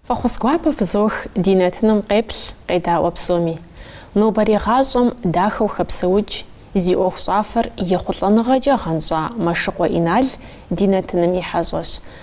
Фӏэхъус гуапэ фызох ди нэтыным къеплъ, къедаӏуэ псоми. Нобэрей гъащӏэм дахэу хэпсэукӏ, зи ӏуэху щӏафэр ехъулӏэныгъэкӏэ гъэнщӏа Мэшыкъуэ Инал ди нэтыным и хьэщӏэщ.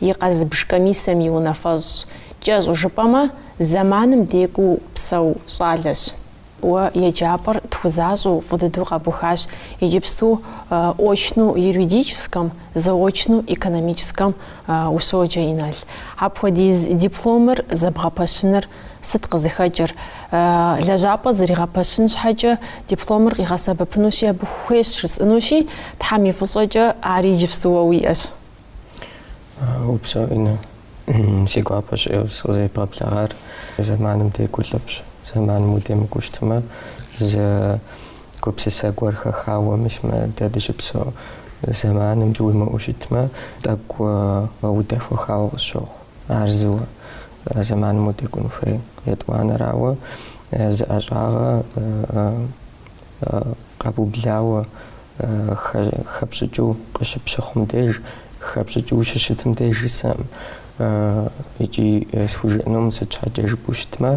и къэзыбж комиссэм и унафэщӏщ, кӏэщӏу жыпӏэмэ, зэманым декӏуу псэу щӏалэщ. Уэ еджапӏэр тхузащӏэу фӏы дыдэу къэбухащ, иджыпсту очну юридическэм, заочну экономическэм ущоджэ, Инал. Апхуэдиз дипломыр зэбгъэпэщыныр сыт къызыхэкӏыр? Лэжьапӏэ зригъэпэщын щхьэкӏэ дипломыр къигъэсэбэпынущи, абы хуейщ жысӏынущи, Тхьэм и фӏыщӏэкӏэ, ар иджыпсту уэ уиӏэщ. Упсэу, Инна, си гуапэщ ӏейуэ сыкъызэребгъэблэгъар, зэманым декӏур лӏыфӏщ. Зэманым удемыкӏуу щытмэ, зы гупсысэ гуэр хэхауэ мис мы дэ дыщыпсэу зэманым уимыӏэу щытмэ, тӏэкӏу удэхуэхауэ къысщохъу. Ар зыуэ зэманым удекӏун хуей. Етӏуанэрауэ, зы ӏэщӏагъэ къэбублауэ хэпщӏыкӏыу къыщыпщыхъум деж, хэпщӏыкӏыу ущыщытым деж жысӏэкъым. Икӏи схужыӏэнукъым, сыт щхьэкӏэ жыпӏэу щытмэ,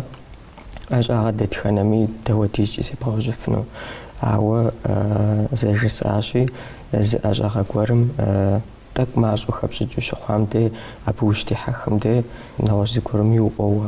ӏэщӏагъэ дэтхэнэми дауэдизкӏи зебгъэужьыфыну. Ауэ зэ жысӏащи, зы ӏэщӏагъэ гуэрым тӏэкӏу мащӏэу хэпщӏыкӏыу ущыхъуам де, абы ущытехьэхым де, нэгъуэщӏ зыгуэрым иуӏуэуэ.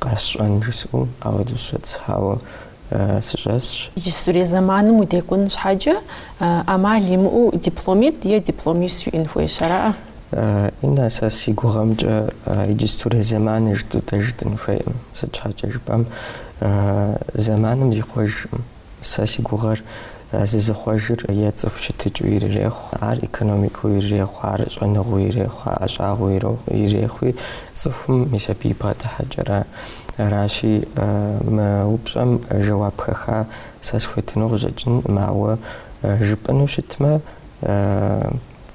Къэсщӏэн жысӏэу ауэдэу сыщӏэтӏысхьауэ сыщӏэсщ. Иджыстырей зэманым удекӏун щхьэкӏэ, ӏэмал имыӏэу дипломит е дипломищ уиӏэн хуейщ, аракъэ? Инна, сэ си гугъэмкӏэ иджыстырей зэман жытӏэу дэ жытӏэн хуейкъым. Сыт щхьэкӏэ жыпӏэм, зэманым зихъуэжкъым. Сэ си гугъэр, зызыхъуэжыр е цӏыху щытыкӏыу ирырехъу, ар экономикэу ирырехъу, ар щӏэныгъэу ирехъу, ӏэщӏагъэу ирехъуи, цӏыхум мис абы и бгъэдыхьэкӏэра. Аращи, мы упщӏэм жэуап хэха сэ схуетыну къыщӏэкӏынкъым, ауэ жыпӏэну щытмэ,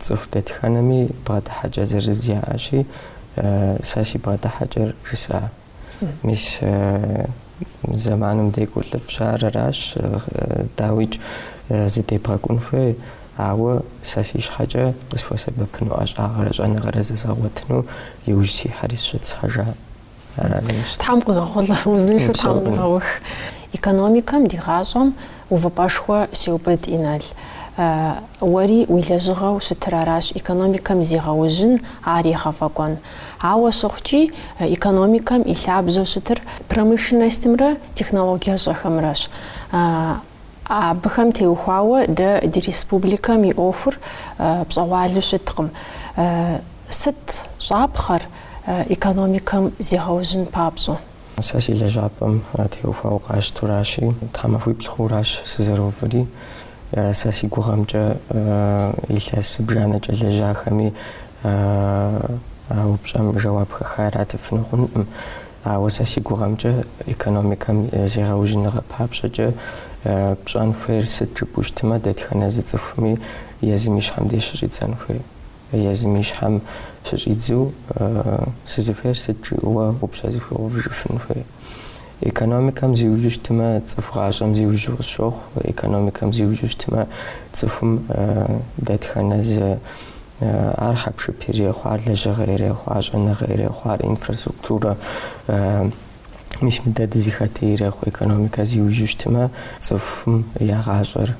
цӏыху дэтхэнэми бгъэдыхьэкӏэ зырыз яӏэщи, сэ си бгъэдыхьэкӏэр жысӏа. Мис зэманым декӏур лӏыфӏщ, ар аращ, дауикӏ зыдебгъэкӏун хуей, ауэ сэ си щхьэкӏэ къысхуэсэбэпыну ӏэщӏагъэрэ щӏэныгъэрэ зэзгъэгъуэтыну иужь сихьэри сыщӏэтӏысхьэжа. Ар аращ сэ. Тхьэм къуигъэхъулӏэ, узыншэу Тхьэм къуигъэух. Экономикэм ди гъащӏэм увыпӏэшхуэ щеубыд, Инал. Уэри уи лэжьыгъэу щытыр аращ, экономикэм зегъэужьын, ар егъэфӏэкӏуэн. Ауэ щыхъукӏи, экономикэм и лъабжьэу щытыр промышленностымрэ технологиящӏэхэмрэщ. Абыхэм теухуауэ дэ ди республикэм и ӏуэхур пщӏэгъуалу щыткъым. Сыт щӏапхъэр экономикэм зегъэужьын папщӏэ? Сэ си лэжьапӏэм теухуауэ къащтуращи, тхьэмахуиплӏ хъуращ сызэрыуври. Сэ си гугъэмкӏэ илъэс зыбжанэкӏэ лэжьахэми а упщӏэм жэуап хэха иратыфыну хъункъым. Ауэ сэ си гугъэмкӏэ экономикэм зегъэужьыныгъэ папщӏэкӏэ пщӏэн хуейр сыт жыпӏэу щытмэ, дэтхэнэ зы цӏыхуми езым и щхьэм деж щыщӏидзэн хуей. Езым и щхьэм щыщӏидзу, Сызыхуейр сыт? жиӏэуэ упщӏэ зыхуигъэувыжыфын хуей. Экономикэм зиужьу щытмэ, цӏыху гъащӏэм зиужьу къысщохъу, экономикэм зиужьу щытмэ, цӏыхум дэтхэнэ зы ар хьэпшып ирехъу, ар лэжьыгъэ ирехъу, ар щӏэныгъэ ирехъу, ар инфраструктурэ мис мы дэ дызыхэтыр ирехъу. Экономикэ зиужьу щытмэ, цӏыхум я гъащӏэр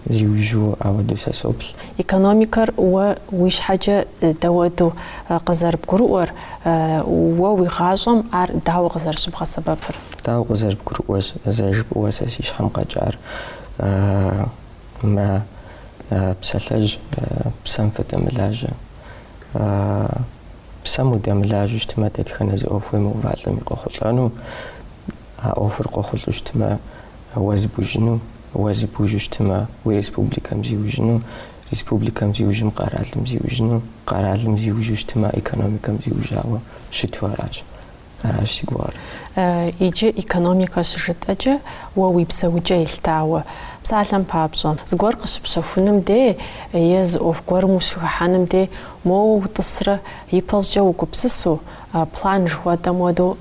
зиужьу ауэдэу сэ соплъ. Экономикэр уэ уи щхьэкӏэ дауэду къызэрыбгурыӏуэр, уэ уи гъащӏэм ар дауэ къызэрыщыбгъэсэбэпыр? Дауэ къызэрыбгурыӏуэр, зэ жыпӏэуэ сэ си щхьэм къэкӏар, мэ псалъэжь псэм фыдэмылажьэ. Псэм удэмылажьэу щытмэ, дэтхэнэ зы ӏуэху уемыувалӏэми къохъулӏэну, а ӏуэхур къохъулӏэу щытмэ, уэ зыбужьыну, уэ зыбужьу щытмэ, уи республикэм зиужьыну, республикэм зиужьым къэралым зиужьыну, къэралым зиужьу щытмэ, экономикэм зиужьауэ щыту аращ. Аращ си гугъэр. Иджы экономикэ щыжытӏэкӏэ уэ уи псэукӏэ елъытауэ. Псалъэм папщӏэ, зыгуэр къыщыпщэхуным дей е зы ӏуэху гуэрым ущыхыхьэным дей моуэ утӏысрэ ипэщӏыкӏэ угупсысу, план жыхуэтӏэм уэдэу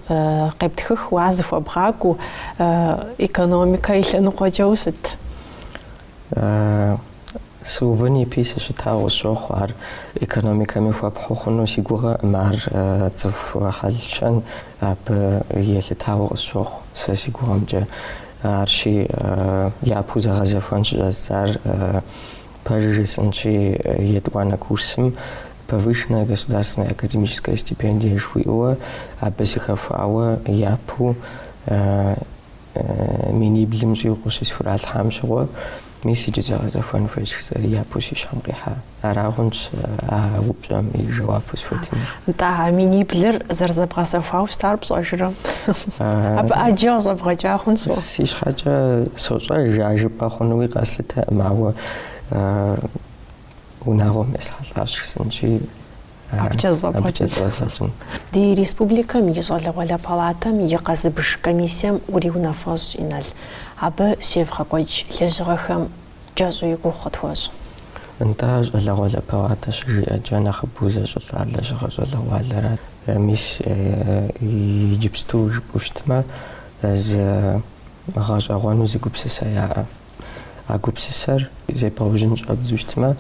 къептхыхыу а зыхуэбгъакӏуэу экономикэ и лъэныкъуэкӏэ ущыт. Сыувын ипи сыщытауэ къысщохъу, ар экономикэми хуэпхьу хъуну си гугъэкъым, ар цӏыху хьэлщэн абы елъытауэ къысщохъу сэ си гугъэмкӏэ. Арщи, япэу зэгъэзэхуэн щыщӏэздзар, пэжыр жысӏэнщи, етӏуанэ курсым Повышенная государственная академическая стипендия жыхуиӏэуэ абы сыхэхуауэ япэу миниблым щӏигъуу щысхуралъхьам щыгъуэ, мис иджы зэгъэзэхуэн хуейщ жысӏэри япэу си щхьэм къихьа. Арагъунщ а упщӏэм и жэуапу схуэтынур. Нтӏэ, а миниблыр зэрызэбгъэзэхуауэ щытар пщӏэжрэ? Абы ӏэджэ къыщӏэбгъэкӏа хъун сэ? Си щхьэкӏэ сощӏэж, а жыпӏэ хъунуи къэслъытэкъым, ауэ унагъуэм есхьэлӏащ жысӏэнщи, Абыкӏэ зэфӏэбгъэкӏын. Ди республикэм и Щӏалэгъуалэ палатэм и къэзыбж комиссием уриунафэщӏ, Инал. Абы щевгъэкӏуэкӏ лэжьыгъэхэм кӏэщӏу и гугъу къытхуэщӏ. Нтӏэ, Щӏалэгъуалэ палатэ щыжиӏэкӏэ нэхъыбэу зэщӏылӏар лэжьыгъэ щӏалэгъуалэрат. Мис, иджыпсту жыпӏэу щытмэ, зы гъэщӏэгъуэну зы гупсысэ яӏэ. А гупсысэр зебгъэужьын щӏэбдзу щытмэ,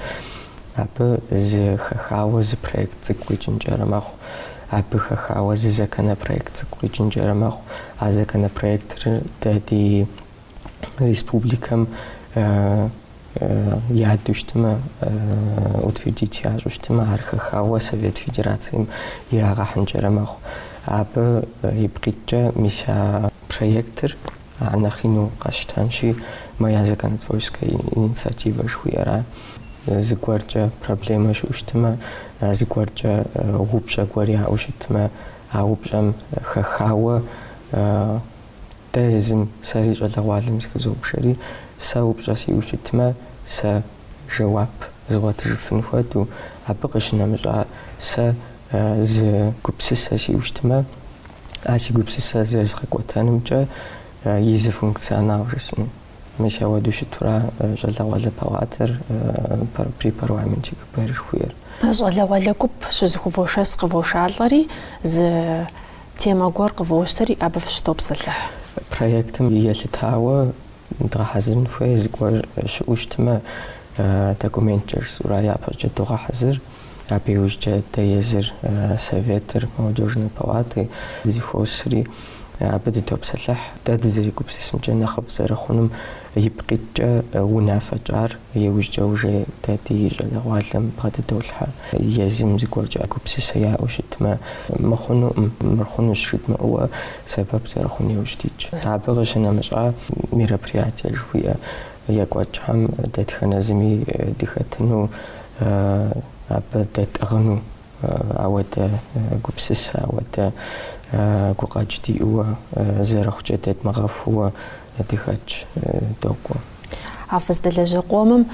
абы зы хэхауэ зы проект цӏыкӏу къикӏынкӏэрэ мэхъу. Абы хэхауэ зы законопроект цӏыкӏу къикӏынкӏэрэ мэхъу. А законопроектыр дэ ди республикэм ядэу щытмэ, утвердить ящӏу щытмэ, ар хэхауэ Совет Федерацием ирагъэхьынкӏэрэ мэхъу. Абы ипкъ иткӏэ мис а проектыр Ар нэхъ ину къэсщтэнщи, «Моя законотворческая инициатива» жыхуиӏэра. Зыгуэркӏэ проблемэ щыӏу щытмэ, зыгуэркӏэ упщӏэ гуэр яӏэу щытмэ, а упщӏэм хэхауэ дэ езым сэри щӏалэгъуалэм зыхызобжэри, сэ упщӏэ сиӏэу щытмэ, сэ жэуап згъуэтыжыфын хуэдэу, абы къыщынэмыщӏа сэ зы гупсысэ сиӏу щытмэ, а си гупсысэр зэрызгъэкӏуэтэнымкӏэ и зы функционал жысӏын. Мис ауэду щытура щӏалэгъуалэ палатэр при парламенте КБР жыхуиӏэр. Щӏалэгъуалэ гуп щызыхувошэс къывошалӏэри, зы темэ гуэр къывощтэри, абы фыщытопсэлъыхь. Проектым елъытауэ Дгъэхьэзырын хуей зыгуэр щыӏэу щытмэ, документкӏэ жысӏэурэ япэкӏэ догъэхьэзыр. Абы иужькӏэ дэ езыр Советыр, Молодежной палаты дызыхуосри, абы дытопсэлъыхь. Дэ дызэригупсысымкӏэ нэхъыфӏ зэрыхъунум ипкъ иткӏэ унафэ тщӏар. Иужькӏэ уже дэ ди щӏалэгъуалэм бгъэдыдолъхьэ. Езым зыгуэркӏэ гупсысэ яӏэу щытмэ, мыр хъунукъым, мыр хъунущ жыдмыӏууэ сэбэп зэрыхъун иужь дитщ. Абы къыщынэмыщӏа мероприятие жыхуиӏэ екӏуэкӏхэм дэтхэнэ зыми дыхэтыну, абы дэтӏыгъыну. ауэдэ гупсысэ, ауэдэ гукъэкӏ диӏууэ, зэрыхъукӏэ дэдмыгъэхууэ дыхэтщ, докӏуэ. А фыздэлажьэ къомым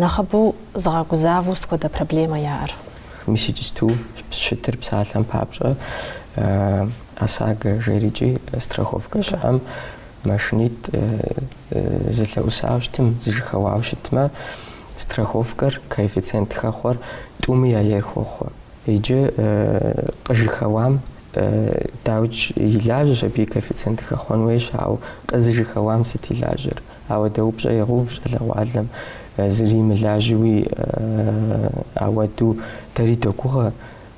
нэхъыбэу зыгъэгузавэу сыт хуэдэ проблемэ яӏэр? Мис иджысту щытыр псалъэм папщӏэ, ОСАГО жерикӏи, страховкэ щыӏэм, машинитӏ зылъэӏусауэ щытым, зыжьэхэуауэ щытмэ, Страховкэр коэффициент хэхъуэр тӏуми я ейр хохъуэ. Иджы къыжьэхэуам дауч и лажьэщ абы и коэффициент хэхъуэн хуейщ, ауэ къызыжьэхэуам сыт и лажьэр? Ауэдэ упщӏэ егъэув щӏалэгъуалэм, зыри мылажьэуи ауэду дэри догугъэ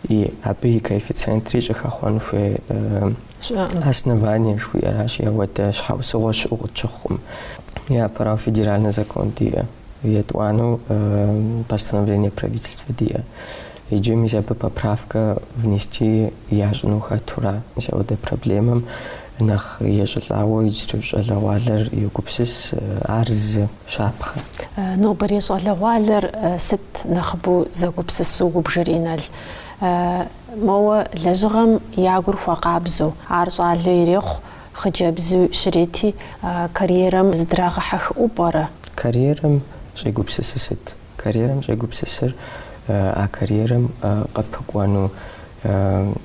и абы и коэффициентри щӏыхэхъуэн хуей. Основание жыхуиӏэращ ауэдэ щхьэусыгъуэ щыӏэу къытщыхъукъым. Япэрауэ федеральный закон диӏэ, етӏуанэу постановление правительства диӏэ. Иджы мис абы поправкэ внести ящӏыну хэтура? Мис ауэдэ проблемэм нэхъ ещӏылӏауэ иджырей щӏалэгъуалэр йогупсыс, ар зы щапхъэ. Нобэрей щӏалэгъуалэр сыт нэхъыбэу зэгупсысу убжыр, Инал? Моуэ лэжьыгъэм я гур хуэкъабзэу, ар щӏалэ ирехъу, хъыджэбзу щрети, карьерэм зыдрагъэхьэхыӏуэу пӏэрэ? Карьерэм щӏегупсысыр сыт? Карьерэм щӏегупсысыр а карьерэм къыпыкӏуэну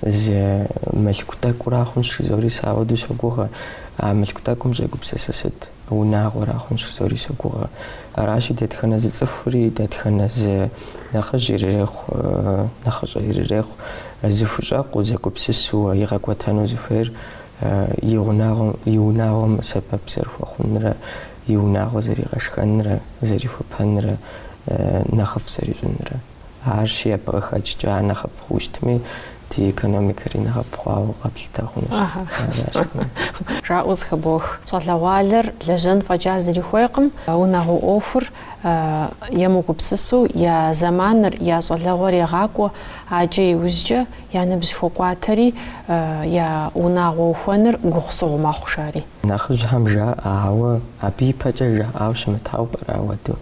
зы мылъку тӏэкӏура хъунщ жызори сэ ауэду согугъэ. А мылъку тӏэкӏум щӏегупсысыр сыт? унагъуэра хъунщ жызори согугъэ. Аращи, дэтхэнэ зы цӏыхури, дэтхэнэ зы нэхъыжь ирырехъу, нэхъыщӏэ ирырехъу зыхущӏэкъуу, зэгупсысу игъэкӏуэтэну зыхуейр и гъунагъуэм, и унагъуэм сэбэп зэрыхуэхъунрэ, и унагъуэ зэригъэшхэнрэ, зэрихуэпэнрэ, нэхъыфӏ зэрищӏынрэ. Арщи, абы къыхэкӏкӏэ ар нэхъыфӏ хъущтми, ди экономикэри нэхъыфӏ хъуауэ къэплъытэ хъунущ. Жаӏэу зэхыбох. Щӏалэгъуалэр лэжьэн фӏэкӏа зыри хуейкъым, унагъуэ ӏуэхур емыгупсысу я зэманыр, я щӏалэгъуэр егъакӏуэ, аджэ иужькӏэ я ныбжь хуэкӏуатэри, я унагъуэ ухуэныр гугъу-сыгъу мэхъу, жари. Нэхъыжьхэм жаӏэ, ауэ абы ипэкӏэ жаӏауэ щымытауэ пӏэрэ ауэду?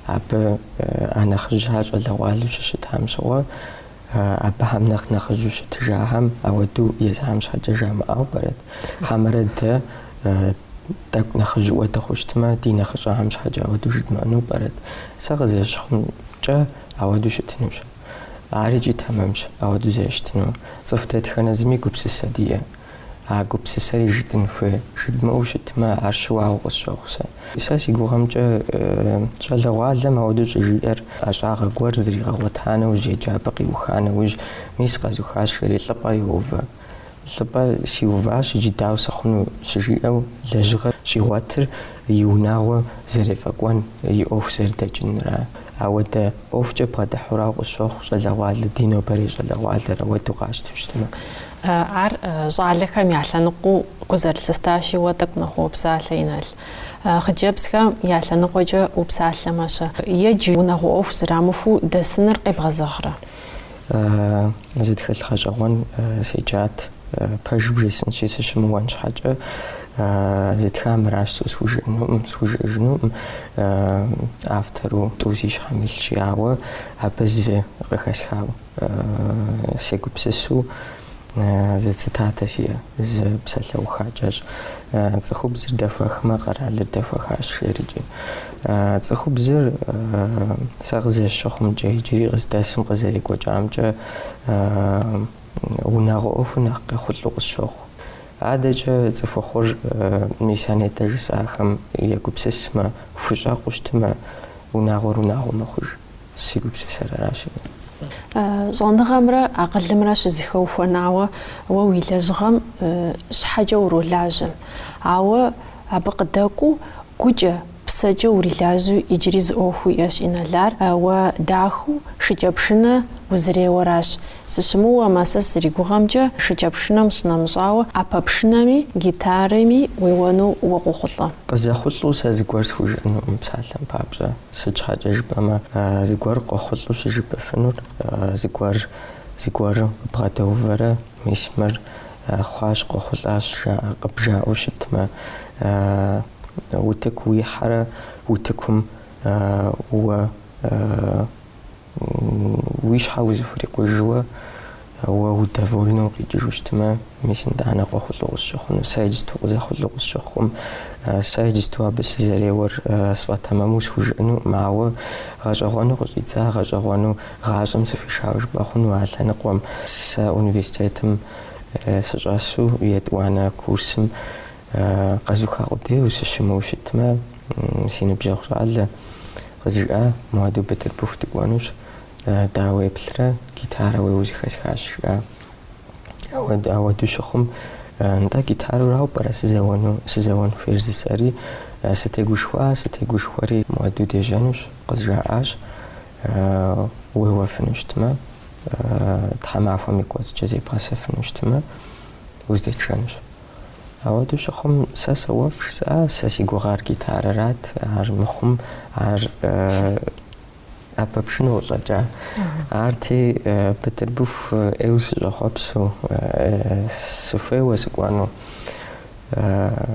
Абы а нэхъыжьхэр щӏалэгъуалэу щыщытхэм щыгъуэ, абыхэм нэхъ нэхъыжьу щытыжахэм ауэдэу езыхэм щхьэкӏэ жамыӏэу пӏэрэт? Хьэмэрэ дэ тӏэкӏу нэхъыжьыӏуэ дыхъущтмэ, ди нэхъыщӏэхэм щхьэкӏэ ауэдэу жыдмыӏэну пӏэрэт? Сэ къызэрыщыхъумкӏэ, ауэдэу щытынущ. Ар икӏи тэмэмщ, ауэдэу зэрыщытынур. Цӏыху дэтхэнэ зыми гупсысэ диӏэ. А гупсысэри жытӏын хуей. Жыдмыӏэу щытмэ, ар щыуагъэу къысщохъу сэ. Сэ си гугъэмкӏэ щӏалэгъуалэм ауэдэу щӏыжиӏэр ӏэщӏагъэ гуэр зригъэгъуэта нэужь, еджапӏэ къиуха нэужь, мис къэзухащ, жери лӏыпӏэ йоувэ. Лӏыпӏэ сиуващ иджы дауэ сыхъуну щыжиӏэу лэжьыгъэ щӏигъуэтыр и унагъуэ зэрефӏэкӏуэн, и ӏуэху зэрыдэкӏынра. Ауэдэ ӏуэхукӏэ бгъэдыхьурауэ къысщохъу щӏалэгъуалэ, ди нобэрей щӏалэгъуалэр ауэдэу къащтэу щытмэ. Ар щӏалэхэм я лъэныкъуэу гу зэрылъыстащи, уэ тӏэкӏу нэхъ уопсалъэ, Инал. Хъыджэбзхэм я лъэныкъуэкӏэ упсалъэмэ-щэ. Иджы, унагъуэ ӏуэху зрамыхуу дэсыныр къебгъэзэгърэ? Зы тхылъ гъэщӏэгъуэн седжат, пэжу бжесӏэнщи, сыщымыуэн щхьэкӏэ. Зытхар мыращ, схужыӏэнукъым, схужыӏэжынукъым. Автору тӏу си щхьэм илъщи, ауэ абы зы къыхэсхауэ. Сегупсысу зы цитатэ сиӏэ, зы псалъэуха кӏэщӏ. Цӏыхубзыр дэхуэхмэ, къэралыр дэхуэхащ, жери икӏи. Цӏыхубзыр сэ къызэщыхъумкӏэ, иджыри къыздэсым къызэрекӏуэкӏамкӏэ унагъуэ ӏуэхур нэхъ къехъулӏэу къысщохъу. Адэкӏэ цӏыхухъур мис а нетӏэ жысӏахэм егупсысмэ, хущӏэкъуу щытмэ, унагъуэр унагъуэ мэхъуж. Си гупсысэр аращ ар. Щӏэныгъэмрэ акъылымрэ щызэхэухуэнауэ уэ уи лэжьыгъэм щхьэкӏэ уролажьэм. Ауэ абы къыдэкӏуу, гукӏэ, псэкӏэ урилажьэу иджыри зы ӏуэху уиӏэщ, Инал, ар, уэ дахэу шыкӏэпшынэ узэреуэращ. Сыщымыуэмэ, сэ сызригугъэмкӏэ, шыкӏэпшынэм щынэмыщӏауэ, ӏэпэпшынэми, гитарэми уеуэну уэ къохъулӏэ. Къызэхъулӏэу сэ зыгуэр схужыӏэнукъым псалъэм папщӏэ. Сыт щхьэкӏэ жыпӏэмэ, зыгуэр къохъулӏэу щыжыпӏыфынур зыгуэр зыгуэру къыбгъэдэувэрэ, мис мыр хъуащ, къохъулӏащ къыбжаӏэу щытмэ, утыку уихьэрэ утыкум уэ Уи щхьэ узыхурикъужу, уэ удовольнэу укъикӏыжу щытмэ, мис нтӏанэ къохъулӏэу къысщыхъуну. Сэ иджысту къызэхъулӏэу къысщыхъукъым, сэ иджысту абы сызэреуэр сфӏэтэмэму схужыӏэнукъым, ауэ, гъэщӏэгъуэну къыщӏидза гъэщӏэгъуэну гъащӏэм сыхуишауэ жыпӏэ хъуну а лъэныкъуэм. Сэ университетым сыщӏэсу етӏуанэ курсым Къэзуха къудейуэ сыщымыуэу щытмэ, си ныбжьэгъу щӏалэ, къызжиӏа, моуэду Бытырбыху дыкӏуэнущ, дауэ уеплърэ, гитарэ уеуэу зыхэсхащ, жиӏа. Ауэду щыхъум, нтӏэ, гитарэрауэ пӏэрэ сызэуэн хуейр жысӏэри? Сытегушхуа, сытегушхуэри, моуэду дежьэнущ, къызжаӏащ, уеуэфыну щытмэ, тхьэмахуэм и кӏуэцӏкӏэ зебгъэсэфыну щытмэ, уздэтшэнущ. Ауэду щыхъум, сэ соуэф, жысӏа, сэ си гугъар гитарэрат, ар мыхъум, ар ӏэпэпшынэу щӏэкӏа. Арти, Бытырбыху ӏейуэ сыщӏэхъуэпсу, сыхуейуэ сыкӏуэну,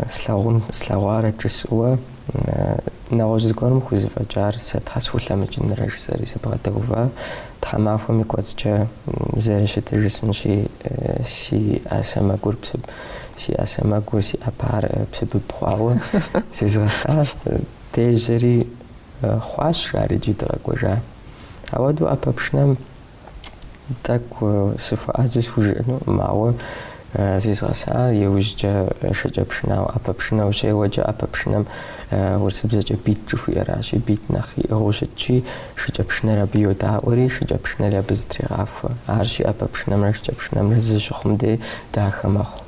слъагъун, слъэгъуарэт жысӏэуэ. Нэгъуэщӏ зыгуэрым хузэфӏэкӏар сэ щхьэ схулъэмыкӏынрэ жысӏэри сыбгъэдэува, тхьэмахуэм и кӏуэцӏкӏэ зэрыщытыр жысӏынщи, си ӏэ сэмэгур псыб си ӏэ сэмэгур си ӏэпэр псыбыб хъуауэ зезгъэсащ, дежьэри хъуащ, жаӏэри иджы дыкъэкӏуэжа. Ауэдэу ӏэпэпшынэм. Тӏэкӏу сыхуэӏэзэу схужыӏэну, мауэ зезгъэса иужькӏэ шыкӏэпшынауэ ӏэпэпшынэ ущеуэкӏэ, ӏэпэпшынэм урысыбзэкӏэ бит жыхуиӏэращи, бит нэхъ иӏыгъыу щытщи, шыкӏэпшынэр абы йодаӏуэри, шыкӏэпшынэри абы зытрегъахуэ. Аращи, ӏэпэпшынэмрэ шыкӏэпшынэмрэ зы щыхъум дей дахэ мэхъу.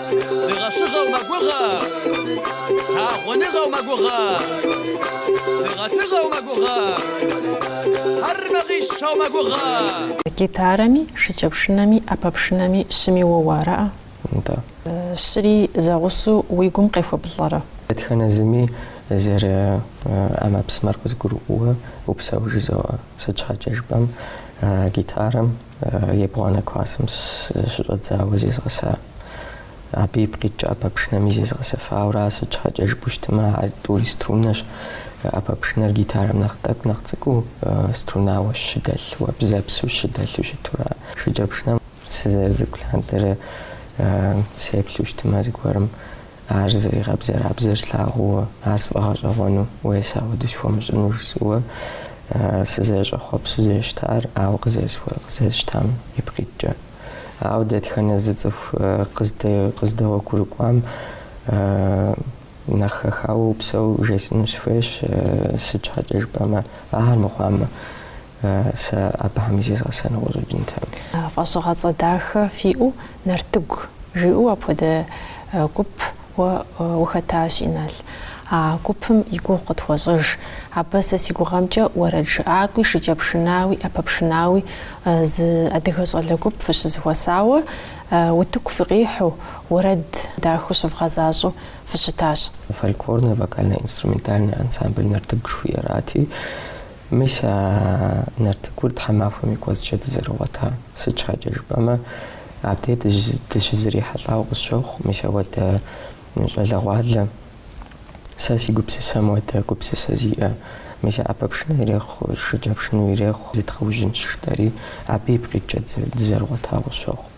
Дыгъэщыгъэу мэгугъэ, лъагъуныгъэу мэгугъэ, дыгъэтыгъэу мэгугъэ, хьэр мэгъищэу мэгугъэ. Гитарэми, шыкӏэпшынэми, ӏэпэпшынэми щыми уоуэ, ара? Нтӏэ. Щыри зэгъусэу уи гум къехуэбылӏэрэ? Дэтхэнэ зыми зэрыӏэмэпсымэр къызгурыӏуэу упсэу жызоӏэ. Сыт щхьэкӏэ жыпӏэм, гитарэм Ебгъуанэ классым щыщӏэдзауэ зезгъэса. Абы ипкъ иткӏэ ӏэпэпшынэми зезгъэсэфауэ ара, сыт щхьэкӏэ жыпӏэу щытмэ, ар тӏури струнэщ. ӏэпэпшынэр гитарэм нэхъ тӏэкӏу, нэхъ цӏыкӏуу, струнауэ щы дэлъууэ, бзэпсу щы дэлъу щыту ара. Шыкӏэпшынэм сызэрыцӏыкӏу лъандэрэ сеплъу щытмэ зыгуэрым. Ар зэригъэбзэрабзэр слъагъууэ, ар сфӏэгъэщӏэгъуэну уей сэ ауэдэ схуэмыщӏыну жысӏэуэ сызэщӏэхъуэпсу зещтар, ауэ къызесхуэ, къызесщтам ипкъ иткӏэ. Ауэ дэтхэнэ зы цӏыху къыздэгъуэгурыкӏуам нэхъ хэхауэ упсэу жесӏэну сыхуейщ, сыт щхьэкӏэ жыпӏэмэ, ахэр мыхъуамэ. Сэ абыхэми зезгъэсэну къыщӏэкӏынтэкъым. Фӏэщӏыгъэцӏэ дахэ фиӏэу Нартыгу жиӏэу апхуэдэ гуп уэ ухэтащ, Инал. А гупым и гугъу къытхуэщӏыж. Абы сэ си гугъэмкӏэ уэрэд жыӏакӏуи, шыкӏэпшынауи, ӏэпэпшынауи зы адыгэ щӏалэ гуп фыщызэхуэсауэ, утыку фыкъихьу, уэрэд дахэу щывгъэзащӏэу фыщытащ. Фольклорнэ вокально-инструментальнэ ансамбль Нартыгу жыхуиӏэрати. Мис а Нартыгур тхьэмахуэм и кӏуэцӏкӏэ дызэрыгъуэта. Сыт щхьэкӏэ жыпӏэмэ, абдей дыщызэрихьэлӏауэ къысщохъу мис ауэдэ щӏалэгъуалэ. Сэ си гупсысэм уэдэ гупсысэ зиӏэ. Мис а ӏэпэпшынэ ирехъу, шыкӏэпшыну ирехъу зедгъэужьынщ, жытӏэри, абы ипкъ иткӏэ дызэрыгъуэтауэ къысщохъу.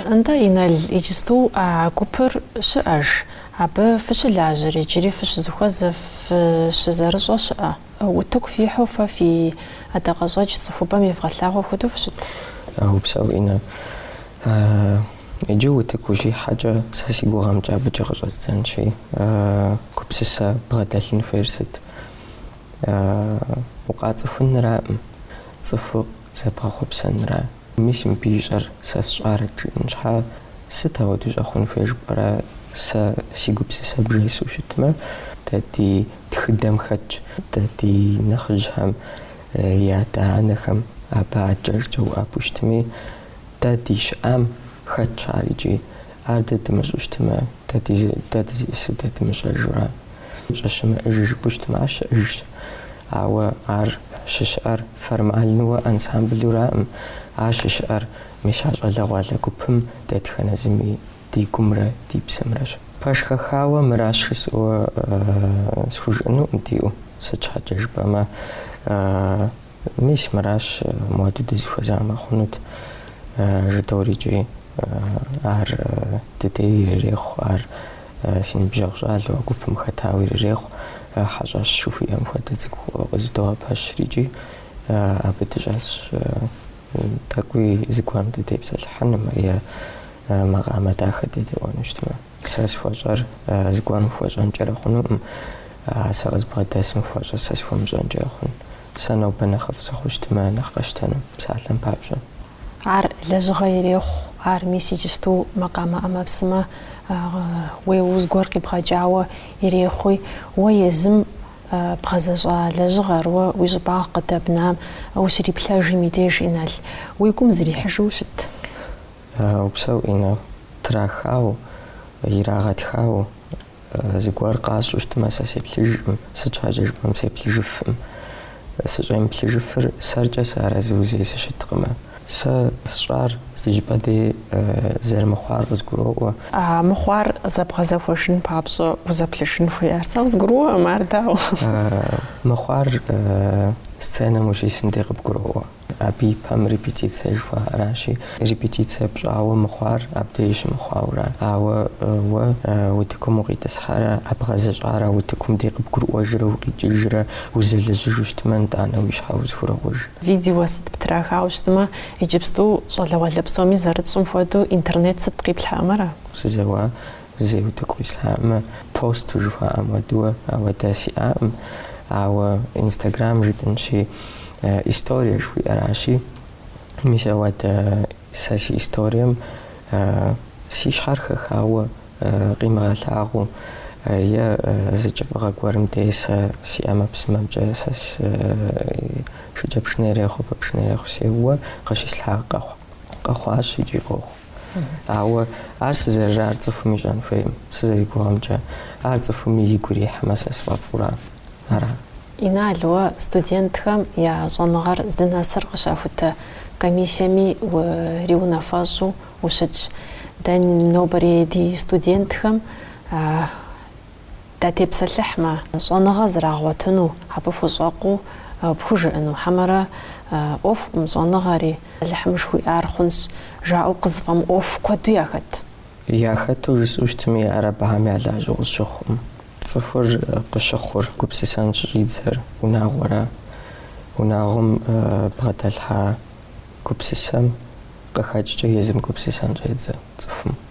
Нтӏэ, Инал, иджысту а гупыр щыӏэж, абы фыщылажьэр, иджыри фыщызыхуэзэ, фыщызэрыщӏэ щыӏэ. Утыку фихьу фэ фи ӏэдакъэщӏэкӏ цӏыхубэм евгъэлъагъуэ хуэдэу фыщыт. Упсэу, Инна. Иджы утыку ущихьэкӏэ, сэ си гугъэмкӏэ абыкӏэ къыщӏэздзэнщи, гупсысэ бгъэдэлъын хуейр сыт? Укъацӏыхунраӏым, цӏыху зэбгъэхъуэпсэнра? Мис мыбы ищӏэр сэ сщӏарэт жиӏэн щхьа, сыт ауэдэ щӏэхъун хуей жыпӏэрэ, сэ си гупсысэ бжесу щытмэ, дэ ди тхыдэм хэтщ, дэ ди нэхъыжьхэм я адэ-анэхэм абы аджэжкӏэ уӏэбэу щытми, дэ ди щыӏэм хэтщ ар икӏи, ар дэ дымыщӏу щытмэ, дэ дызиӏысыр дэ дымыщӏэжура? щӏыщымыӏэж жыпӏэу щытмэ, ар щыӏэжщ, ауэ ар щыщыӏэр формальнэуэ ансамблыураӏым, ар щыщыӏэр мис а щӏалэгъуалэ гупым дэтхэнэ зыми ди гумрэ ди псэмрэщ. Пэш хэхауэ мыращ жысӏэуэ схужыӏэнуӏым диӏэу, сыт щхьэкӏэ жыпӏэмэ, Мис мыращ муэду дызыхуэзамэ хъунут, жыдоӏэрикӏи, ар дыдей ирырехъу, ар си ныбжьэгъу щӏалэу а гупым хэтауэ ирырехъу, хьэщӏэщ жыхуиӏэм хуэдэ цӏыкӏу къызыдогъэпэщрикӏи, абы дыщӏэсщ тӏэкӏуи зыгуэрым дытепсэлъыхьынумэ е макъамэ дахэ дедэӏуэну щытмэ. Сэ схуэщӏэр зыгуэрым хуэщӏэнкӏэрэ хъунуӏым, сэ къызбгъэдэсым хуэщӏэр сэ схуэмыщӏэнкӏэрэ хъун? Сэ нобэ нэхъыфӏ сыхъу щытмэ, нэхъ къэсщтэну, псалъэм папщӏэ. Ар лэжьыгъэ ирехъу, ар мис иджысту макъамэ ӏэмэпсымэ уеуэу зыгуэр къибгъэкӏауэ ирехъуи, уэ езым бгъэзэщӏа лэжьыгъэр, уэ уи щӏыбагъ къыдэбнам ущриплъэжым и деж, Инал, уи гум зрихьыжу щыт? Упсэу, Инна. Трахауэ, ирагъэтхауэ, зыгуэр къащӏу щытмэ, сэ сеплъыжкъым, сыт щхьэкӏэ жыпӏэм сеплъыжыфӏым. Сыщӏемыплъыжыфыр сэркӏэ сыарэзыу зэи сыщыткъымэ. Сэ сщӏар зы щӏыпӏэ дей зэрымыхъуар къызгуроӏуэ. Мыхъуар зэбгъэзэхуэжын папщӏэ узэплъыжын хуей? Ар сэ къызгурыӏуэӏым, ар дауэ? Мыхъуар сценэм ущисым дей къыбгуроӏуэ. Абы и пэм репетицэ жыхуаӏэращи, репетицэ пщӏауэ мыхъуар абдеж щымыхъуаура? Ауэ уэ утыкум укъитӏысхьэрэ, а бгъэзэщӏар утыкум дей къыбгурыӏуэжрэ укъикӏыжрэ узэлэжьыжу щытмэ, нтӏанэ уи щхьэ узыхурокъуж? Видео сыт птрахауэ щытмэ, иджыпсту щӏалэгъуалэ псоми зэрытщӏым хуэдэу интернет сыт къиплъхьэмэрэ? Сызэуа Зэи утыку ислъхьакъым, посту жыхуаӏэм уэдуэ ауэдэ сиӏакъым, ауэ инстаграм жытӏэнщи, историе жыхуиӏэращи, мис ауэдэ сэ си историем си щхьэр хэхауэ къимыгъэлъагъуу е зы кӏыфӏыгъэ гуэрым дей сэ си ӏэмэпсымэмкӏэ сэ шыкӏэпшынэ ирехъу, ӏэпэпшынэ ирехъу сеууэ къыщислъхьа къэхъу, къэхъуащ икӏи къохъу. Ауэ ар сызэрырар цӏыхум ищӏэн хуейкъым, сызэригугъэмкӏэ. Ар цӏыхуми игу ирихьмэ, сэ сфӏэфӏурэ ара? Инал, уэ студентхэм я щӏэныгъэр здынэсыр къыщахутэ комиссиеми уриунафэщӏу ущытщ. Дэ нобэрей ди студентхэм датепсэлъыхьмэ, щӏэныгъэ зрагъуэтыну, абы хущӏэкъуу пхужыӏэну, хьэмэрэ ӏуэхукъым щӏэныгъэри, Алыхьым жыхуиӏар хъунщ, жаӏэу къызыфӏэмыӏуэху куэду яхэт. Яхэту жысӏэу щытми, ар абыхэм я лажьэу къысщыхъукъым. Цӏыхур къыщыхъур гупсысэн щыщӏидзэр унагъуэра? Унагъуэм бгъэдэлъхьа гупсысэм къыхэкӏкӏэ езым гупсысэн щӏедзэ цӏыхум.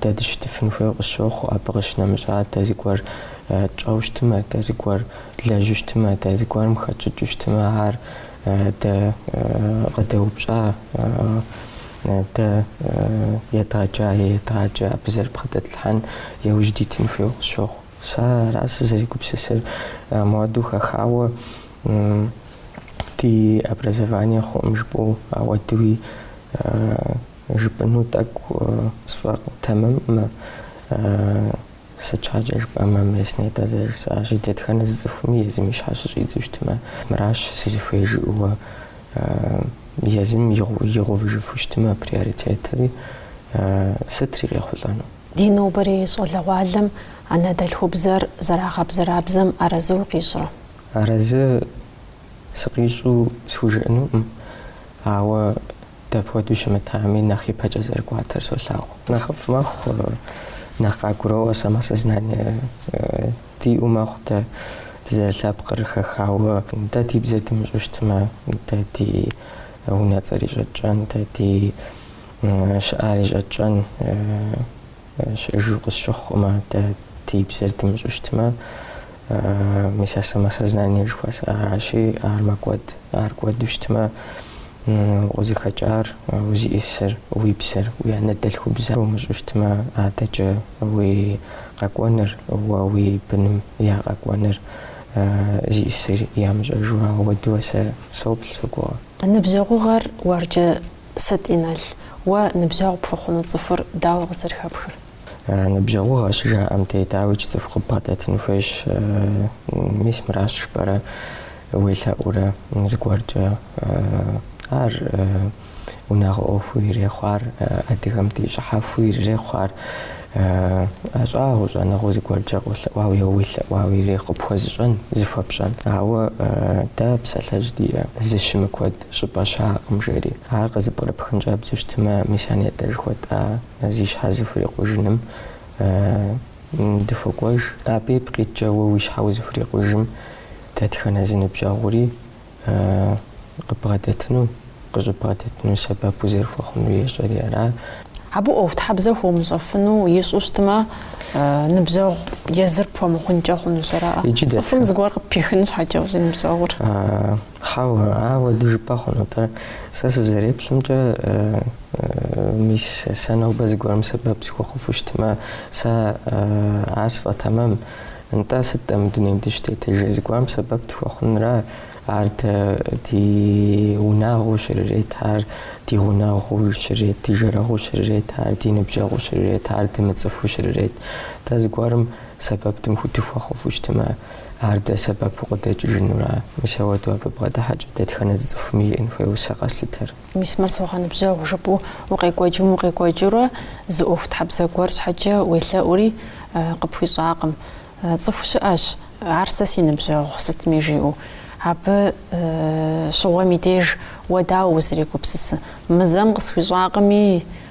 Дэ дыщытыфын хуейуэ къысщохъу, абы къыщынэмыщӏа дэ зыгуэр тщӏэу щытымэ, дэ зыгуэр длэжьу щытымэ, дэ зыгуэрым хэтщӏыкӏыу щытымэ, ар дэ къыдэупщӏа, дэ едгъэджа е едгъаджэ, абы зэрыбгъэдэтлъхьэн яужь дитын хуейуэ къысщохъу. Сэ ара сызэригупсысыр. Муэду хэхауэ ди образование хъуӏым жыпӏэу ауэдууи. Жыпӏэну тӏэкӏу сфӏэтэмэмкъым. Сыт щхьэкӏэ жыпӏэмэ, мис нетӏэ зэрыжысӏащи, дэтхэнэ зы цӏыхуми езым и щхьэ щыщӏидзу щытмэ, мыращ сызыхуей жиӏэуэ, езым игъувыжыфу щытмэ приоритетри, сытри къехъулӏэну. Ди нобэрей щӏалэгъуалэм анэдэлъхубзэр зэрагъэбзэрабзэм арэзы укъищӏрэ? Арэзы сыкъищӏу схужыӏэнукъым, ауэ Дапхуэдэу щымытами, нэхъ ипэкӏэ зэрыкӏуатэр солъагъу. Нэхъыфӏ мэхъу, нэхъ къагуроӏуэ самосознание диӏэу мэхъу дэ дызэрылъэпкъыр хэхауэ. Дэ ди бзэр дымыщӏэу щытмэ, дэ ди унэцӏэри щӏэтщӏэн, дэ ди щыӏари щӏэтщӏэн. Щыӏэжу къысщыхъукъым, дэ ди бзэр дымыщӏэу щытмэ, мис а самосознание жыхуэсӏэ аращи, ар мэкӏуэд. Ар кӏуэду щытмэ, укъызыхэкӏар, узиӏисыр, уи бзэр, уи анэдэлъхубзэр умыщӏэу щытмэ, адэкӏэ уи къэкӏуэныр, уэ уи быным я къэкӏуэныр зиӏисыр ямыщӏэжу ауэдуэ сэ соплъ, согугъэ. Ныбжьэгъугъэр уэркӏэ Сыт, Инал, уэ ныбжьэгъу пхухъуну цӏыхур дауэ къызэрыхэпхыр? Ныбжьэгъугъэ щыжаӏэм дей, дауикӏ, цӏыху къыббгъэдэтын хуейщ. Мис мыращ жыпӏэрэ уелъэӏурэ зыгуэркӏэ. Ар унагъуэ ӏуэхуу ирехъу ар, адыгэм ди щӏыхьэхуу ирырехъу ар, ӏэщӏагъэу, щӏэныгъэу зыгуэркӏэ къолъэӏуауэ е уелъэӏуауэ ирехъу къыпхуэзыщӏэн, зыхуэпщӏэн. Ауэ дэ псалъэжь диӏэ, зыщымыкуэд щӏыпӏэ щыӏэкъым, жери. Ар къызэпкърыпхын щӏэбдзэу щытмэ, мис а нетӏэ жыхуэтӏа зи щхьэ зыхурикъужыным дыхуэкӏуэж. Абы ипкъ иткӏэ уэ уи щхьэ узыхурикъужым дэтхэнэ зы ныбжьэгъури къыббгъэдэтыну, къыщӏыббгъэдэтыну сэбэп узэрыхуэхъунур ещӏэри ара? Абы ӏуэхутхьэбзэ хуомыщӏэфыну ищӏу щытмэ, ныбжьэгъу езыр пхуэмыхъункӏэ хъунущ, ара? Иджы дэтхэ? Цӏыхум зыгуэр къыппихын щхьэкӏэ узиныбжьэгъур. Хьэуэ, ауэдэ жыпӏэ хъуну, атӏэ сэ сызэреплъымкӏэ, мис сэ нобэ зыгуэрым сэбэп сыхуэхъуфу щытмэ, сэ ар сфӏэтэмэм, нтӏэ сыт-тӏэ мы дунейм дыщӏытетыжыр, зыгуэрым сэбэп дыхуэхъунра, ар дэ ди унагъуэу щырырет ар, ди гъунэгъуу щырет, ди жэрэгъуу щырет ар, ди ныбжьэгъуу щырет ар, дымыцӏыхуу щырет, дэ зыгуэрым сэбэп дымыху- дыхуэхъуфу щытмэ, Ар дэ сэбэпу къыдэкӏыжынура? Мис ауэдэу абы бгъэдыхьэкӏэ дэтхэнэ зы цӏыхуми иӏэн хуейуэ сэ къэслъытэр. Мис мыр согъэныбжьэгъу жыпӏэу укъекӏуэкӏым укъекӏуэкӏыурэ зы ӏуэхутхьэбзэ гуэр щхьэкӏэ уелъэӏури къыпхуищӏакъым. Цӏыху щыӏэщ, ар сэ си ныбжьэгъу сытми жиӏэу. Абы щыгъуэм и деж уэ дауэ узрегупсысы? Мы зэм къысхуищӏакъыми,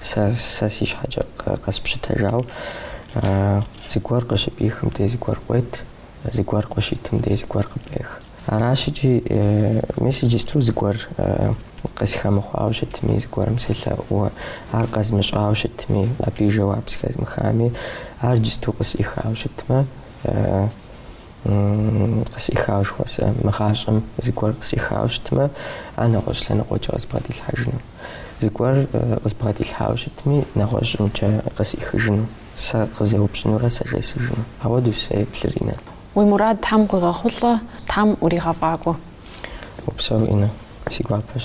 Сэ, сэ си щхьэкӏэ къэспщытэжауэ, зыгуэр къыщыпӏихым дей зыгуэр къует, зыгуэр къыщыуитым дей зыгуэр къыпӏех. Аращ икӏи, мис иджысту зыгуэр къысхуэмыхъуауэ щытми, зыгуэрым селъэӏууэ, ар къэзмыщӏауэ щытми, абы и жэуап зэхэзмыхами, ар иджысту къысӏихауэ щытмэ, къысӏихауэ жыхуэсӏэ, мы гъащӏэм зыгуэр къысӏихауэ щытмэ, ар нэгъуэщӏ лъэныкъуэкӏэ къызбгъэдилъхьэжыну. Зыгуэр къызбгъэдилъхьауэ щытми, нэгъуэщӏымкӏэ къысӏихыжыну, сэ къызэупщӏынурэ сэ жесӏэжыну. Ауэдэущ сызэреплъыр, Инэ. Уи мурад Тхьэм къуигъэхъулӏэ, Тхьэм уригъэфӏакӏуэ. Упсэу, Инэ, си гуапэщ.